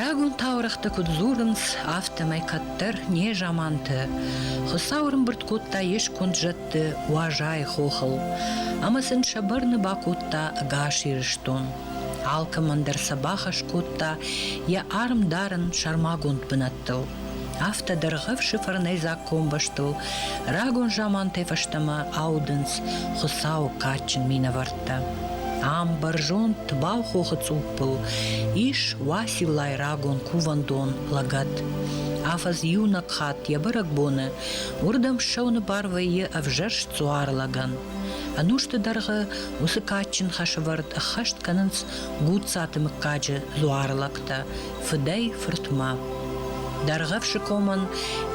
Рагон таурыхъты куыд дзурынц, афтӕмӕй кӕддӕр незаманты Хуыцау ӕрымбырд кодта йе сконд зӕдты Уазайы хохыл ӕмӕ сын сӕ бӕрны бакодта ӕгас Ирыстон. Алкӕмӕн дӕр сӕ бахӕс кодта йӕ арм дарын сӕрмагонд бынат комбӕстыл. Афтӕ дӕргъӕвсы фӕрнӕйдзаг комбӕстыл рагон замантӕй фӕстӕмӕ аудынц Хуыцау кадджын минӕвӕрттӕ. Ам бӕрзонд тбау хохы цъуппыл ис Уасиллайы рагон кувӕндон лӕгӕт. Афӕдз иунӕг хатт йӕ бӕрӕгбоны уырдӕм ссӕуыны бар вӕййы ӕвзӕрст дзуар лӕгӕн. Ӕнусты дӕргъы уыцы кадджын хӕсывӕрд ӕххӕст кӕнынц Гуццаты мыггаджы дзуар лӕгтӕ, фыдӕй-фыртмӕ. Дӕргъӕвсы комӕн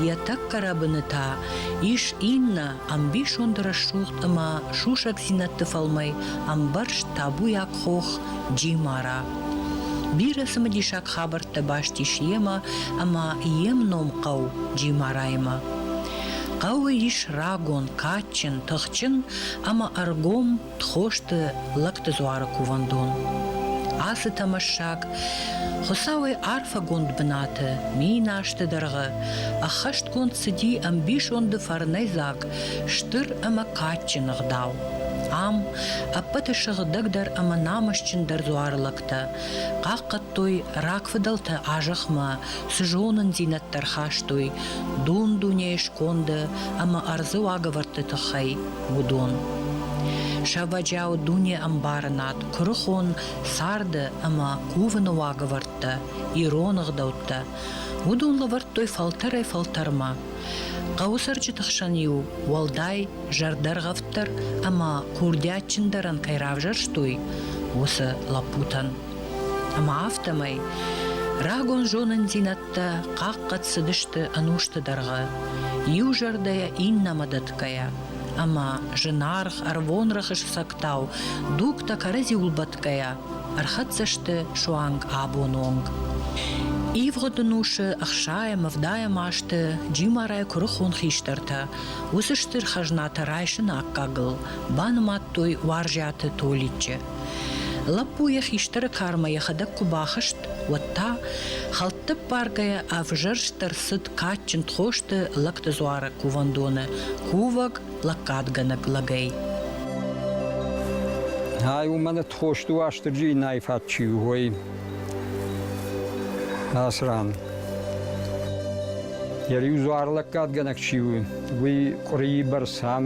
йӕ тӕккӕ рӕбыны та ис иннӕ ӕмбисонд рӕсугъд ӕмӕ сусӕгдзинӕдты фӕлмӕй ӕмбӕрзт табуйаг хох Джимара. Бирӕ цымыдисаг хабӕрттӕ баст ис йемӕ ӕмӕ йе мном хъӕу Джимараимӕ. Хъӕуы ис рагон, кадджын, тыхджын ӕмӕ ӕргом Тхосты лӕгты дзуары кувӕндон. Ацы тӕмӕссаг Хуыцауӕй арфӕгонд бынаты, минасты дӕргъы, ӕххӕстгонд цыди ӕмбисонды фӕрнӕйдзаг, стыр ӕмӕ кадджын ӕгъдау. Ам ӕппӕты сыгъдӕгдӕр ӕмӕ намысджындӕр дзуары лӕгтӕ хъахъхъӕдтой рагфыдӕлтӕ азӕхмӕ, цы зонындзинӕдтӕ рхастой дун-дунейы сконды ӕмӕ ӕрдзы уагӕвӕрдты тыххӕй. уыдон. Сӕвӕджиау дунеӕмбарынад, куырыхон царды ӕмӕ кувыны уагӕвӕрдтӕ, ирон ӕгъдӕуттӕ, уыдон лӕвӕрдтой фӕлтӕрӕй-фӕлтӕрмӕ. Хъӕуы цӕрджыты хсӕн-иу уӕлдай зӕрдӕргъӕвддӕр ӕмӕ курдиатджындӕрӕн кӕй равзӕрстой, уыцы лӕппутӕн. Ӕмӕ афтӕмӕй рагон зонындзинӕд Дӕ хъахъхъӕд цыдысты ӕнусты дӕргъы, иу зӕрдӕйӕ иннӕмӕ дӕтгӕйӕ, ӕмӕ зынаргъ, ӕрвонрӕхыс фсӕгтау дугтӕ кӕрӕдзиуыл бӕтгӕйӕ ӕрхӕццӕ сты суанг абоны онг. Ивгъуыд ӕнусы ӕхсайӕ мывдайӕм азты Джимарайы куырыхон хистӕртӕ уыцы стыр хӕзнатӕ райсыны аккагыл банымадтой уарзӕты Толиччы. Лӕппу йӕ хистӕры кармӕ йӕхӕдӕг куы бахызт, уӕд та, хӕлтты ппаргӕйӕ, ӕвзӕрстӕр цыд кадджын тхосты лӕгты дзуары кувӕндоны кувӕг лӕггадгӕнӕг лӕгӕй. Ай уымӕн тхосты Уастырджи иннӕйы фӕд чи у, уой Асран. Йӕ риу дзуар лӕггадгӕнӕг чи у, уый къуырийы бӕрц ам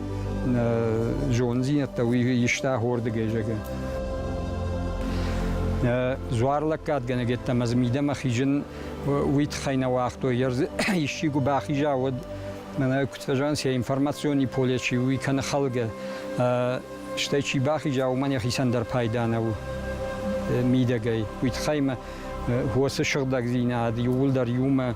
зондзийнӕдтӕ иста хордигӕй зӕгӕ. Зуарлӕггадгӕнӕг еттӕмӕ мидӕмӕ хизин уи тхӕй нӕ уагътой, ер исчигу бахиза уӕд мӕнӕ куд фӕзан се информациони поле чи уи кӕны хӕлгӕ, стӕй чи бахиза, уымӕн ехицӕн дӕр пайда нӕу мидӕгӕй. Уи тхӕймӕ уоцы сыгъдӕгдзийнад иууылдӕр иумӕ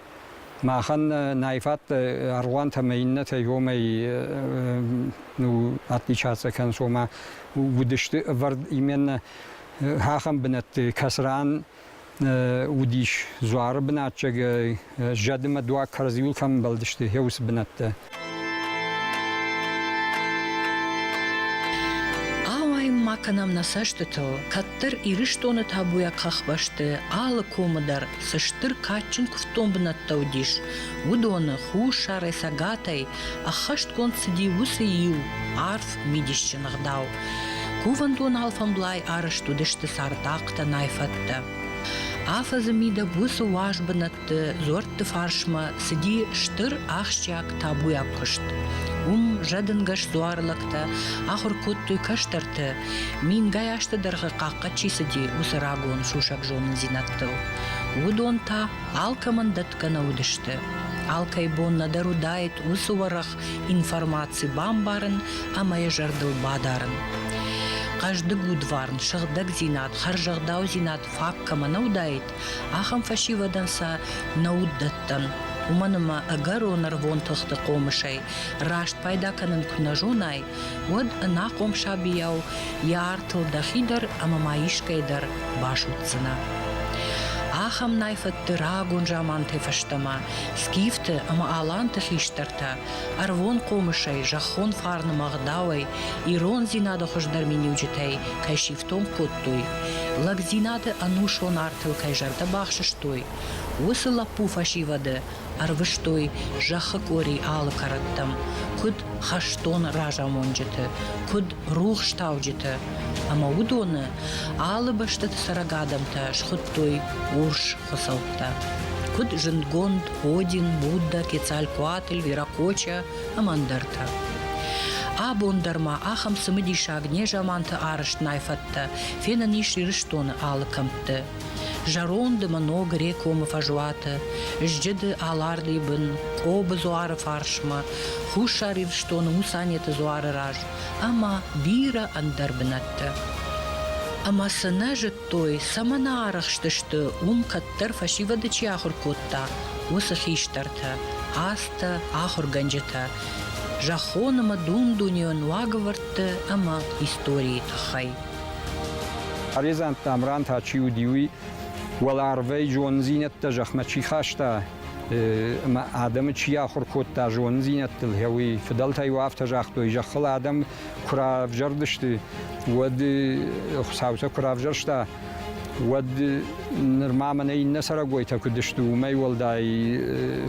Махӕн нӕй фӕтт аргъуантӕмӕ иннӕтӕй уомӕй ну, отличаться кӕнс, ома уыдысты ӕвӕрд именно ахӕм бынӕтты, кӕцыран уыдис дзуары бынатчъӕгӕй, зӕдымӕ дуаг кӕрдзиуыл кӕм ӕмбӕлдысты, уыцы бынӕттӕ. Ауайын ма кӕнӕм нӕ цӕстытыл, кӕддӕр Ирыстоны табуйаг хӕхбӕсты алы комы дӕр цы стыр кадджын куывддон бынӕттӕ уыдис, уыдоны хуссарӕй, цӕгатӕй ӕххӕстгонд цыди уыцы иу арф мидисджын ӕгъдау. Кувӕндон алфӕмблай арӕзт уыдысты цардахътӕ, найфӕдтӕ. Афӕдзы мидӕг уыцы уаз бынӕт ӕмгъуыдты дзуӕртты фарсмӕ цыди стыр ахсджиаг табуйаг куыст. Уым зӕдынгӕс дзуары лӕгтӕ ахуыр кодтой кӕстӕрты, мингай азты дӕргъы хъахъхъӕд чи цыди, уыцы рагон сусӕг зонындзинӕдтыл. Уыдон та алкӕмӕн дӕтгӕ нӕ уыдысты. Алкӕй бон нӕдӕр уыдаид уыцы уӕрӕх информаци бамбарын ӕмӕ йӕ зӕрдыл бадарын. Хъӕздыг удварн, сыгъдӕгдзинад, хӕрзӕгъдаудзинад фаг кӕмӕ нӕ уыдаид, Ахӕм фӕсивӕдӕн сӕ нӕ уд дӕттӕн, уымӕн ӕмӕ ӕгӕрон ӕрвон тыхты хъомысӕй раст пайда кӕнын куы нӕ зонай, уӕд ӕнахъом сабийау йӕ артыл дӕхи дӕр ӕмӕ ма искӕй дӕр басудздзынӕ. Ахӕм найфӕдты рагон заманты фӕстӕмӕ скифты ӕмӕ аланты хистӕртӕ ӕрвон хъомысӕй, зӕххон фарны ӕгъдауӕй, ирондзинады хуыздӕр миниуджытӕй кӕй сифтонг кодтой, кодтой, лӕгдзинады ӕнусон артыл кӕй зӕрдӕ бахсыстой, уыцы лӕппу фӕсивӕды ӕрвыстой зӕххы къори алы кӕрӕттӕм, куыд хӕстон разамонджыты, куыд рухстауджыты, ӕмӕ уыдоны алы бӕстӕты цӕрӕг адӕмтӕ схуыдтой урс хуыцӕуттӕ. Куыд зындгонд Один, Будда, Кецалькуатл, Веракоча, ӕмӕ ӕндӕртӕ. Абон дӕр ма ахӕм цымыдисаг незаманты арӕзтнай фӕдтӕ фенӕн ис Ирыстоны алы кӕмтты. Зӕронд ӕмӕ ног рекомы фӕзуаты, зджыды Алардыйы бын, Къобы дзуары фарсмӕ, Хуссар Ирыстоны Мусанеты дзуары раз ӕмӕ бирӕ ӕндӕр бынӕтты. Ӕмӕ цы нӕ зыд кодтой, цӕмӕн ӕрыхстысты, уым кӕддӕр фӕсивӕды чи ахуыр кодта, уыцы хистӕртӕ, азтӕ, ахуыргӕнджытӕ зӕххон ӕмӕ дун-дунейон уагӕвӕрдты ӕмӕ историйы тыххӕй. Арезант Тамран та чи уыди, уый уӕларвӕй зондзинӕдтӕ зӕхмӕ чи хаста ӕмӕ адӕмы чи ахуыр кодта зондзинӕдтыл, гъе уый фыдӕлтӕ-иу афтӕ загътой, зӕххыл адӕм куы равзӕрдысты, уӕд Хуыцау сӕ куы равзӕрста, уӕд нырма мӕнӕ иннӕ цӕрӕгойтӕ куыд сты, уымӕй уӕлдай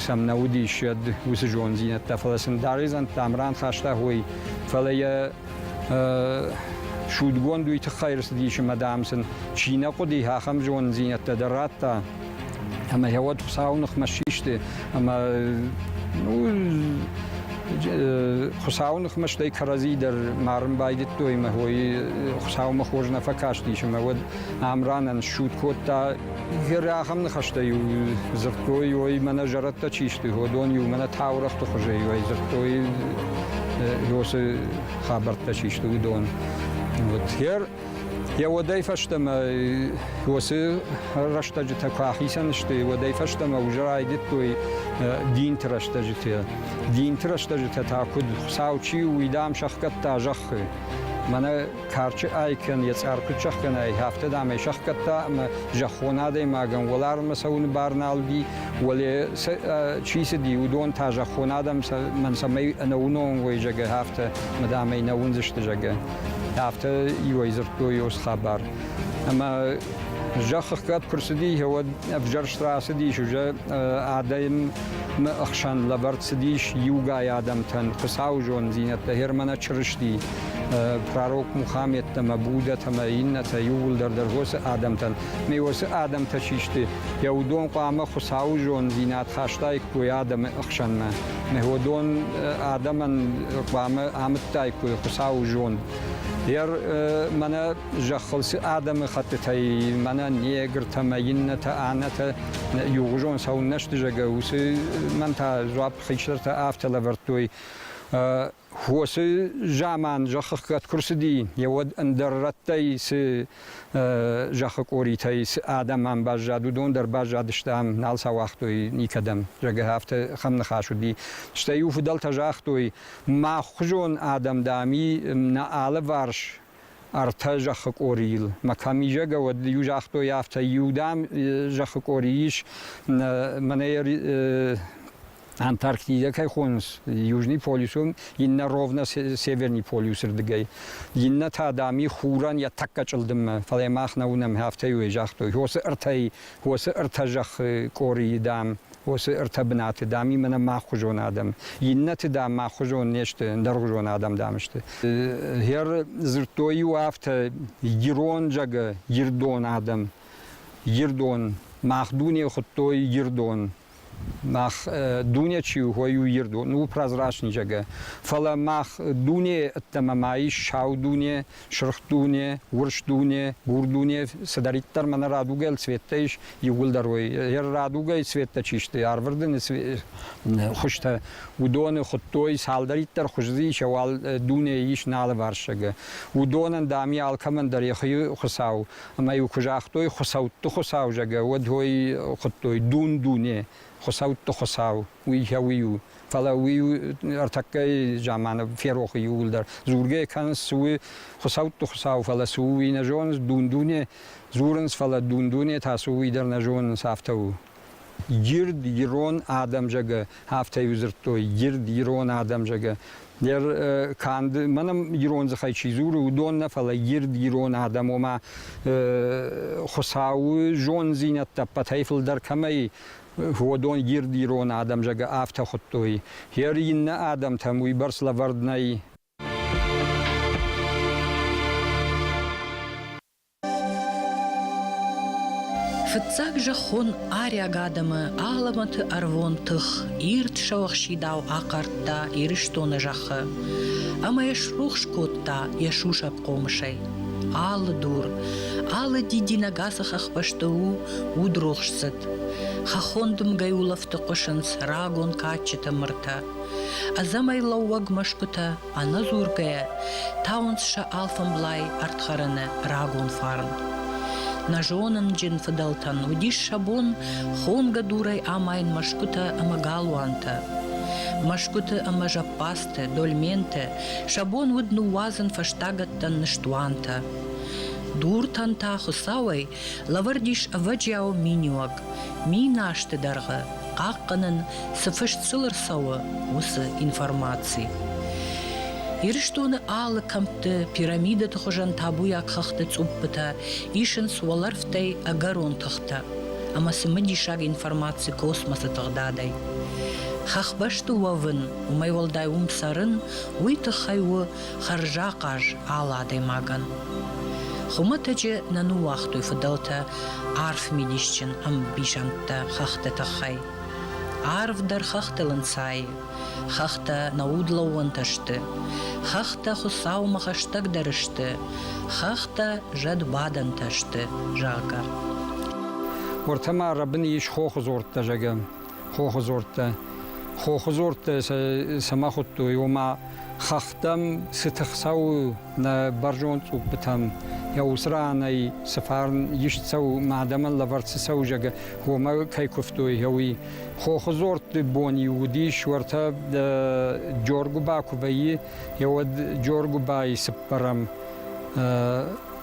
сӕм нӕ уыдис йӕд уыцы зонддзинӕдтӕ, фӕлӕ сын Даредзантӕм раныхӕста хой, фӕлӕ йӕ судгонд уый тыххӕй рцыдис ӕмӕ, дам, сын чи нӕ хъуыди, ахӕм зонддзинӕдтӕ дӕр радта. Ӕмӕ йӕ уӕд Хуыцауы ныхмӕ систы ӕмӕ ну, Хуыцауы ныхмӕ стӕй кӕрӕдзи дӕр марын байдыдтой ӕмӕ хойы Хуыцаумӕ хорз нӕ фӕкастис ӕмӕ уӕд Амранӕн ссуд кодта. Гӕры ахӕм ныхӕстӕ-иу дзырдтой, ой, мӕнӕ зӕрӕдтӕ чи сты, уыдон-иу мӕнӕ таурӕгъты хуызӕй уӕй дзырдтой, уыцы хабӕрттӕ чи сты, уыдон. Вот, Йӕ уодӕй фӕстӕмӕ уоцы рӕстӕджытӕ куы ахицӕн сты, уӕдӕй фӕстӕмӕ уже райдыдтой динты рӕстӕджытӕ. Динты рӕстӕджытӕ та куыд Хуыцау чи у, уый дам сӕхгӕдта зӕххы. Мӕнӕ карчы айкӕн йӕ цъар куыд сӕхгӕнай, афтӕ дам ӕй сӕхгӕдта ӕмӕ зӕххон адӕймагӕн уӕларвмӕ цӕуыны бар нал уыди, уӕле чи цыди, уыдон та зӕххон адӕм цӕмӕй ӕнӕуынон уой, зӕгъгӕ, афтӕ, мадам ӕй нӕ уындзысты, зӕгъгӕ. Афтӕ иуӕй дзырдтой ос хабар. Ӕмӕ зӕххыгӕп куы рцыди, уӕд ӕвзӕрст рацыдис уже адӕмы ӕхсӕн лӕвӕрд цыдис иугай адӕмтӕн Хуыцауы зонддзинӕдтӕ, Германӕ Чырысти, пророк Мухаммедтӕмӕ, Буддӕтӕмӕ, иннӕтӕ иууылдӕр дӕр уыцы адӕмтӕн. Ме уыцы адӕмтӕ чи сты, йӕ уыдон хъуамӕ Хуыцауы зонддзинад хастаиккой адӕмы ӕхсӕнмӕ. уыдон адӕмӕн хъуамӕ амыдтаиккой Хуыцауы зонд. Ер мӕнӕ зӕххыл цы адӕмыхӕттытӕй мӕнӕ негртӕ мӕ иннӕтӕ аннӕтӕ иугъуызон сӕу не сдызӕгӕ, уыцы мӕн та дзуапп хистӕртӕ афтӕ лӕвӕрдтой. Уоцы заман зӕххыхгӕд куы рцыди, йӕ уӕд ӕндӕр рӕттӕй цы зӕххы къоритӕй цы адӕмӕн баззад, уыдон дӕр баззадысты ам, нал сӕ уагътой никӕдӕм. Зӕгӕ, афтӕ хӕм ныхас уыди. Стӕй-иу фыдӕлтӕ загътой, мах хуызон адӕм, дам, нӕ алыварс ӕртӕ зӕххы къорийыл. Мӕ кӕмизӕгӕ уӕд иу загътой афтӕ, иу, дам, зӕххы къори ис, мӕнӕ Антарктидӕ кӕй хонынц, Южный полюс у, иннӕ ровно Северный полюсы рдыгӕй. Иннӕ та, дам, и хурӕн йӕ тӕккӕ чъылдыммӕ, фӕлӕ мах нӕ уынӕм, афтӕ-иу ӕй загътой, уосы ӕртӕй, уосы ӕртӕ зӕххы къорийы, дам, Уыцы ӕртӕ бынаты, дам-иу мӕнӕ мӕ ӕххуызон адӕм, иннӕты, дам, мӕ ӕххуызон не сты, ӕндӕргъуызон адӕм, дам, сты. Гӕр дзырдтой-иу афтӕ, Ирон зӕгы Ирдон адӕм, Ирдон, мах дуне хуыдтой Ирдон, мах дуне чи у, уый у Ирдон, у прозрачный зӕгӕ. Фӕлӕ мах дуне ӕддӕмӕ ма ис сау дуне, Сырх дуне, урс дуне, бур дуне цыдӕриддӕр мӕнӕ радугӕ цветтӕ ис, иууылдӕр уой. Йӕ радугӕйы цветтӕ чи сты, арвырдыны хуызтӕ, уыдоны хуыдтой, цалдӕриддӕр хуыз дзы ис, уал дунейы ис налыварсагы. Уыдонӕн, дам, алкӕмӕн дӕр йӕхи хуыцау. Ӕмӕ-иу куы загътой хуыцӕутты хуыцау, зӕгъгӕ, уӕд уой хуыдтой дун-дуне, хуыцӕутты хуыцау, уый кӕуый у. Фӕлӕ уый ӕртӕккӕй заманы ферохы иууылдӕр дзургӕ кӕнынц, цы у хуыцӕутты хуыцау, фӕлӕ цы у, уый нӕ зонынц, дун-дуне дзурынц, фӕлӕ дун-дуне та цы у, уый дӕр нӕ зонынц, афтӕ у. Гирд, ирон адӕм зӕгӕ, афтӕ иу дзырдтой, гирд, ирон адӕм зӕгӕ. Дӕр канд, мӕнӕ ирон дзыхӕй чи дзуры, уыдон нӕ, фӕлӕ гирд, ирон адӕм, ома хуыцауы зонддзинӕдтӕ ӕппӕтӕй фылдӕр кӕмӕй Уодон гирд ирон адӕм зӕгӕ афтӕ худтой. Ер иннӕ адӕмтӕм уыйбӕрц лӕвӕрд нӕй. Фыццаг зӕххон арӕг адӕмы алӕмӕты ӕрвон тых ирд сӕуӕхсидау ахъардта Ирыстоны зӕххы ӕмӕ йӕ срухс кодта йӕ сусӕг хъомысӕй. Алы дур, алы дидинӕг ацы хӕхбӕсты у удрухсдзыд. Хӕххон дымгӕйы улӕфты хъуысынц рагон кадджытӕ мыртӕ. Ӕдзӕмӕй лӕууӕг мӕсгуытӕ ӕнӕдзургӕйӕ тауынц сӕ алфӕмблай ӕрдхӕрыны рагон фарн. Нӕ зонынджын фыдӕлтӕн уыдис сӕ бон хонгӕ дурӕй амайын мӕсгуытӕ ӕмӕ галуантӕ. Мӕсгуыты ӕмӕ зӕппадзты, дольменты сӕ бон уыд ныууадзын фӕстагӕттӕн ныстуантӕ. Дуртӕн та Хуыцауӕй Лӕвӕрд ис ӕвӕджиау миниуӕг. Мин азты дӕргъы хъахъхъӕнын, цы фыст сыл ӕрцӕуы, уыцы информаци. Ирыстоны алы кӕмтты пирамидӕты хуызӕн табуйаг хыгъды цъуппытӕ исынц уӕлӕрвтӕй ӕгӕрон тыхтӕ ӕмӕ цымыдисаг информаци космосы тыгъдадӕй. Хӕхбӕсты уӕвын, уымӕй уӕлдай уым цӕрын, уый тыххӕй у хӕрзахъаз алы адӕймагӕн. Хуымӕтӕджы нӕ ныууагътой фыдӕлтӕ арф мидисджын ӕмбисӕндтӕ хӕхты тыххӕй. Арв дӕр хӕхтыл ӕнцайы. Хӕхтӕ нӕ удлӕууӕнтӕ сты. Хӕхтӕ Хуыцаумӕ хӕстӕгдӕр сты. Хӕхтӕ зӕдбадӕнтӕ сты, зӕгъгӕ. Уыртӕ ма рӕбын ис хохы дзордтӕ, зӕгъӕм. хохудзорттӕ. Хохудзорттӕ цӕмӕ хуыдтой, ома хӕхтӕм цы тых цӕуы нӕ бӕрзонд цъуппытӕм, йӕ уыцы ранӕй цы фарн ист цӕуы, мӕ адӕмӕн лӕвӕрд цы цӕуы, зӕгӕ, уымӕ кӕй куывтой, уый. Хохудзорты бон-иу уыдис уӕртӕ Джоргуыба куы вӕййы, йӕ уӕд Джоргуыбайы цыппӕрӕм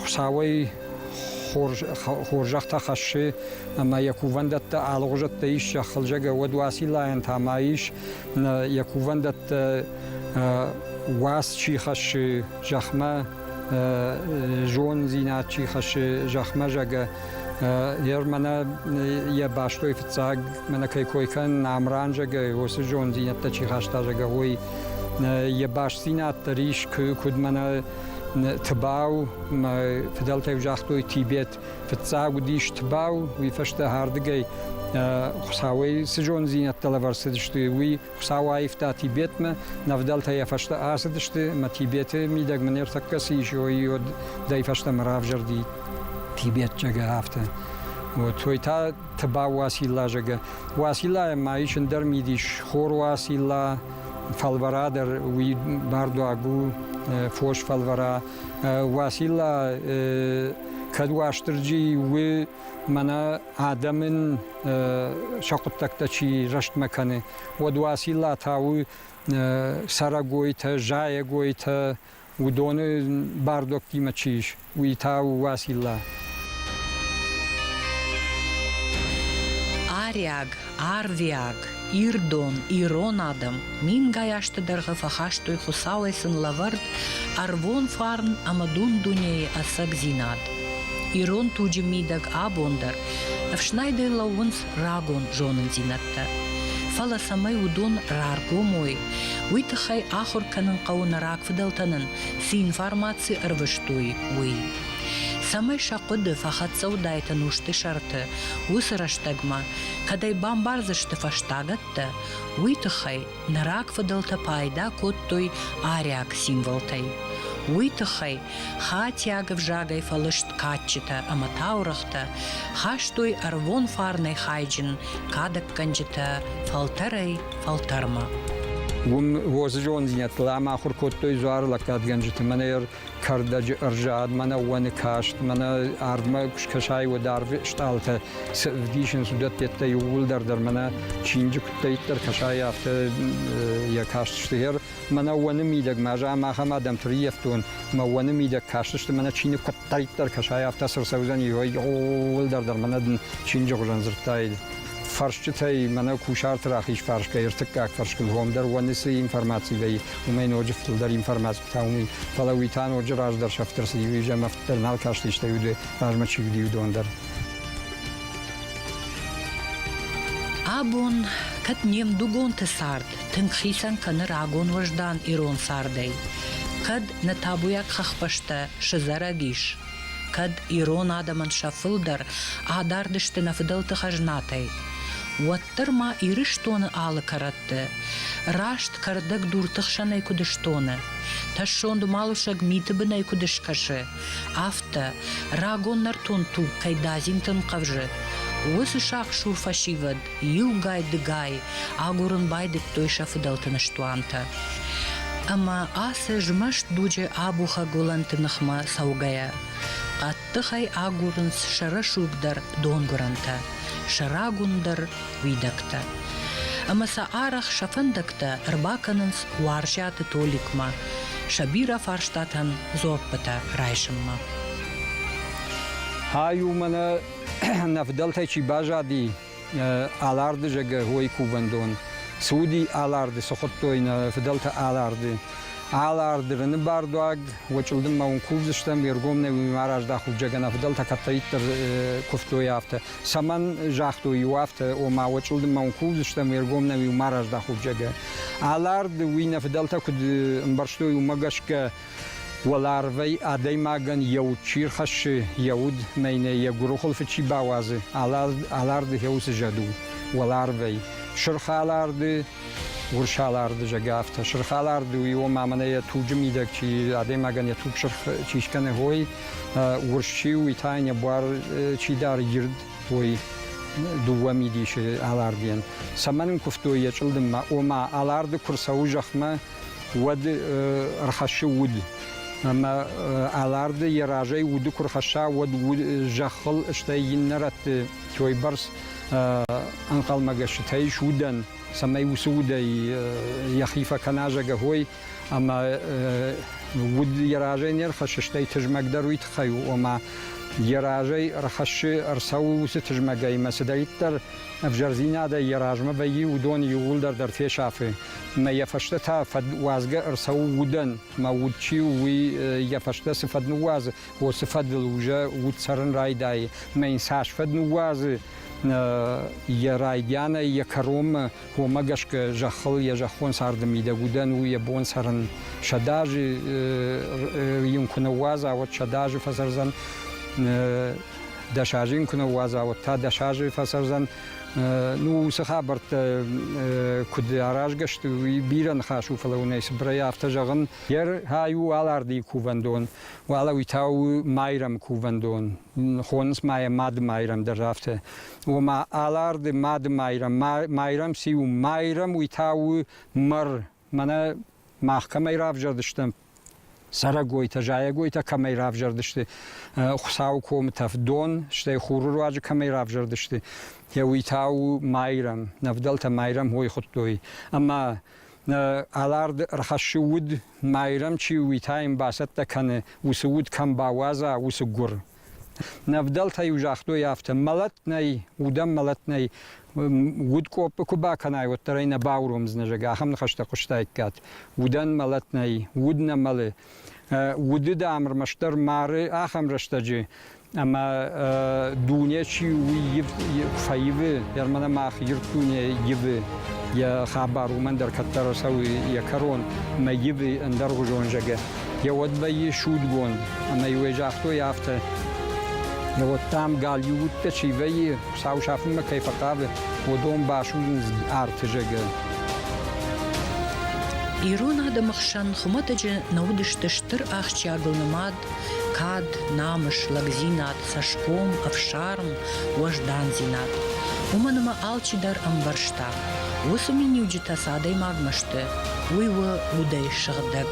Хуцауӕй хорзӕхтӕ хӕсси ӕма е кувӕндӕттӕ алгъузӕттӕ иссӕг хӕлзӕгӕ уодуацилайӕнтӕ ма ис. Е кувӕндӕттӕ уац чи хӕсси зӕхмӕ, зондзинад чи хӕсси зӕхмӕ зӕгӕ, е мӕнӕ е бӕстой фиццаг мӕнӕ кӕй кой кӕн Намран зӕгӕ, уоци зонддзийнӕдтӕ чи хаста зӕгӕ, уой Е бастдзийнаддӕ рис куд мӕнӕ Тбау, федӕлтӕй загътой Тибет, фиццаг уыдис Тбау, уый фӕстӕ ардыгӕй Хуцауӕй цы зондзийнӕдтӕ лӕвӕрд цыдысты, уый Хуцау аивта Тибетмӕ, нӕвдӕлтӕ йӕ фӕстӕ ацыдысты, мӕ Тибеты мидӕгмӕ не ртӕккӕ ци исой, уодӕй фӕстӕмӕ равзӕрди тибетчагӕ афтӕ. Вот, той та Тбау Уацилла, зӕгӕ. Уациллайӕн ма ис ӕндӕр мидис, хор Уацилла, фӕлвӕра дӕр уый бардуаг у, фос фӕлвӕра. Уацилла кӕд Уастырджи у мӕнӕ адӕмӕн сӕ хъуыддӕгтӕ чи рӕстмӕ кӕны, уӕд Уацилла та у цӕрӕгойтӕ, зайӕгойтӕ, уыдоны бардуӕгтимӕ чи ис, уый та у Уацилла. Ариаг, арвиаг, ирдон, ирон адӕм мингай азты дӕргъы фӕхастой Хуыцауӕй сын лӕвӕрд ӕрвон фарн ӕмӕ дун-дунейы ӕцӕгдзинад. Ирон туджы мидӕг абон дӕр ӕфснайдӕй лӕууынц рагон зонындзинӕдтӕ. Фӕлӕ цӕмӕй уыдон раргом уой, уый тыххӕй ахуыр кӕнын хъӕуы нӕ рагфыдӕлтӕ нын цы информаци ӕрвыстой, уый. Цӕмӕй сӕ хъуыды фӕхӕццӕ уыдаид ӕнусты сӕрты, уыцы рӕстӕгмӕ, кӕд ӕй бамбардзысты фӕстагӕттӕ, уый тыххӕй Нӕ рагфыдӕлтӕ пайда кодтой ариаг символтӕй. Уый тыххӕй хатиаг ӕвзагӕй фӕлыст кадджытӕ ӕмӕ таурӕгътӕ, хастой ӕрвон фарнӕй хайджын кадӕггӕнджытӕ фӕлтӕрӕй фӕлтӕрмӕ. Уым уоцы зондзинӕдтыл ӕмахуыр кодтой дзуары лӕггадгӕнджыты. Мӕнӕ кӕрдӕджы ӕрзад, мӕнӕ уӕны каст, мӕнӕ ардмӕ куы скӕсай, уӕд арвы стъалытӕ цы ӕвдисынц, уыдӕттӕ иууылдӕр дӕр мӕнӕ чиныджы куыддӕйддӕр кӕсай, афтӕ йӕ каст сты. Гъер мӕнӕ уӕны мидӕгмӕ, ӕз ам ахӕм адӕмты риййӕфтон, мӕ уӕны мидӕг кастысты, мӕнӕ чиныг куыддӕйддӕр кӕсай, афтӕ цы рцӕудзӕни, иууылдӕр дӕр мӕнӕ дын чиныджы хуызӕн дзырдтаид. Фӕрсчытӕй мӕнӕ кусарты рахиз фарс кӕй ӕртыккаг фӕрскыл гом дӕр уӕны цы информаци вӕййы, уымӕй ноджы фылдӕр информаци та уый. Фӕлӕ уый та ноджы раздӕр сӕфт ӕрцыд, иу изӕмӕфт дӕр нал касти, стӕй уыд размӕ чи уыди, уыдон дӕр. Абон, кӕд не мдугонты цард тынг хицӕн кӕны рагон уӕздан ирон цардӕй, кӕд нӕ табуйаг хӕхбӕстӕ сызӕрӕг ис, кӕд ирон адӕмӕн сӕ фылдӕр адард сты нӕ фыдӕлты хӕзнатӕй, уӕд дарддӕр ма Ирыстоны алы кӕрӕтты раст кӕрдӕгдурты хсӕнӕй куыд стоны, тӕссонд уымӕлусӕг миты бынӕй куыд скӕсы, афтӕ, рагон нӕртон туг кӕй дадзинты нхъӕвзы, уыцы сахъсур фӕсивӕд иугай-дыгай агурын байдыдтой сӕ фыдӕлты ныстуантӕ. Ӕмӕ ацы змӕст дуджы абухӕг уылӕнты ныхмӕ цӕугӕйӕ, Тыхӕй агурынц сӕ рӕсугъдӕр донгуырӕнтӕ, сӕ рагундӕр уидӕгтӕ. Ӕмӕ сӕ арӕх сӕ фӕндӕгтӕ ӕрбакӕнынц Уарзӕты Толикмӕ, сӕ бирӕ фарстатӕн дзуаппытӕ райсынмӕ. Ай у мӕнӕ нӕ фыдӕлтӕй чи баззади, Аларды зӕгӕ уой кувӕндон. Цуди Аларды, цухуттой нӕ фыдӕлтӕ Аларды. Аларды рыны бардуаг, уочылдынмӕ ун кувдзыстӕм, ергомнӕ уи ма раздахуг зӕгӕнӕ фыдӕлтӕ кӕддӕриддӕр кувтой афтӕ. Цӕмӕн загътой у афтӕ, ома уочылдынмӕ ун кувдзыстӕм, ергомнӕ уи ма раздахуг зӕгӕ. Аларды уи нӕ фыдӕлтӕ куд ӕмбӕрстой, уымӕ гӕсгӕ Уӕларвӕй адӕймагӕн еу чи рхӕссы йӕ уд, мӕнӕ йӕ гуырыхуылфы чи бауадзы, аларды хеуцы зӕд у уӕларвӕй. Сырхаларды, урсаларды зӕгӕ афтӕ. Сырхаларды у, ома мӕнӕ йӕ туджы мидӕг чи адӕймагӕн йӕ туг сырх чи скӕны, ой, урс чи у, уый та йын йӕ буар чи дары ирд, ой, дыууӕ мидисы алардийӕн. Цӕмӕн ын куывтой йӕ чъылдыммӕ? Ома, аларды куы рцӕуы зӕхмӕ, уӕд ӕрхӕссы уд. Ӕмӕ Аларды йӕ разӕй уды куы рхӕсса, уӕд зӕххыл, стӕй иннӕ рӕтты тойбӕрц ӕнхъӕлмӕгӕсджытӕ ис удӕн, цӕмӕй уыцы удӕй йӕхи фӕкӕна зӕгӕхой, ӕмӕ уд йӕ разӕй не рхӕссы, стӕй тызмӕгдӕр уый тыххӕй у, ома йӕ разӕй ӕрхӕссы, ӕрцӕуы уыцы тызмӕгӕй ӕмӕ цыдӕриддӕр ӕвзӕрдзинадӕй йӕ размӕ вӕййы, уыдон иууылдӕр дӕр фесафы. Мӕ йӕ фӕстӕ та фӕдуадзгӕ ӕрцӕуы удӕн. Мӕ уд чи у, уый йӕ фӕстӕ цы фӕд ныууадзы, уыцы фӕдыл уже уд цӕрын райдайы. Мӕ йын цас фӕд ныууадзы, йӕ райдианӕй, йӕ кӕронмӕ, уымӕ гӕсгӕ зӕххыл йӕ зӕххон царды мидӕг удӕн у йӕ бон цӕрын. Сӕдӕ азы йын куы ныууадза, уӕд сӕдӕ азы фӕцӕрдзӕн. Дӕс азы йын куы ныууадза, уӕд та дӕс азы фӕцӕрдзӕн. Ну, уыцы хабӕрттӕ куыд аразгӕ сты, уый бирӕ ныхас у, фӕлӕ уынӕй цыбырӕй афтӕ зӕгъын, Ер хай у Алардийы кувӕндон, уӕлӕ уый та у Майрӕмы кувӕндон. Хонынц ма йӕ Мады Майрӕм дӕр афтӕ. Ома Аларды Мады Майрӕм, Майрӕм цы у? Майрӕм уый та у мӕр Мӕнӕ мах кӕмӕй равзӕрдыстӕм, цӕрӕгойтӕ, зайӕгойтӕ кӕмӕй равзӕрдысты, Хуыцауы комытӕф дон, стӕй хуры руаджы кӕмӕй равзӕрдысты, йӕ уый та у Майрӕм, нӕвдӕлтӕ Майрӕм хой хуыдтой. Ӕмӕ Алард ӕрхӕссы уд, Майрӕм чи у, уый та йын бацӕттӕ кӕны, уыцы уд кӕм бауадза, уыцы гуыр. Нӕ вдӕлтӕ-иу загътой афтӕ, мӕлӕт нӕй, удӕн мӕлӕт нӕй, удкъоппы куы бакӕнай, уӕддӕр ӕй нӕ бауромдзынӕ, зӕгъгӕ, ахӕм ныхӕстӕ хъуыстаиккат. Удӕн мӕлӕт нӕй, уд нӕ мӕлы. Уды, дам, ӕрмӕстдӕр мары ахӕм рӕстӕджы, ӕмӕ дуне чи у, уый фӕивы, ӕрмӕн мах ирд дуне ивы. Йӕ хабар уымӕн дӕр кӕддӕр ӕрцӕуы йӕ кӕрон, ӕмӕ ивы ӕндӕргъуызон, зӕгъгӕ. Йӕ уӕд вӕййы судгонд, ӕмӕ иуӕй загътой афтӕ, вот там галиу удтӕ чи вӕййы, сау сафынмӕ кӕй фӕхъавы, уыдон басудзынц арты зӕгӕ. Ирон адӕмы хсӕн хуымӕтӕджы нӕ уыдысты стыр ахсджиагыл нымад кад, намыс, лӕгдзинад, цӕсгом, ӕфсарм, уӕздандзинад. Уымӕн ӕмӕ алчи дӕр ӕмбӕрста, Уыцы миниуджытӕ цы адӕймагмӕ сты, уый у удӕй сыгъдӕг,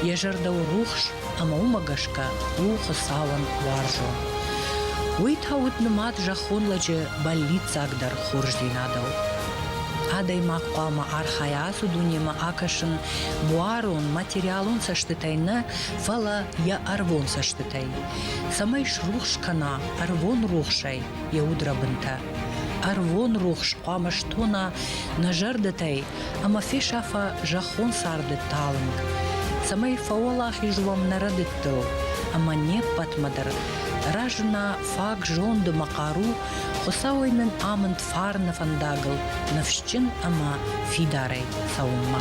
йӕ зӕрдӕ у рухс ӕмӕ уымӕ гӕсгӕ у Хуыцауӕн уарзон. Уый та уыд нымад зӕххон лӕджы бӕллиццагдӕр хорздзинадыл. Адӕймаг хъуамӕ архайа ацы дунемӕ акӕсын буарон, материалон цӕстытӕй нӕ, фӕлӕ йӕ ӕрвон цӕстытӕй, цӕмӕй срухс кӕна ӕрвон рухсӕй йӕ удрӕбынтӕ. Ӕрвон рухс хъуамӕ стона нӕ зӕрдӕтӕй ӕмӕ фесафа зӕххон царды талынг, цӕмӕй фӕуӕлахиз уӕм нӕ рӕдыдтыл ӕмӕ не ппӕтмӕ дӕр разына фаг зонд ӕмӕ хъару Хуыцауӕй нын амынд фарны фӕндагыл ныфсджын ӕмӕ фидарӕй цӕуынмӕ.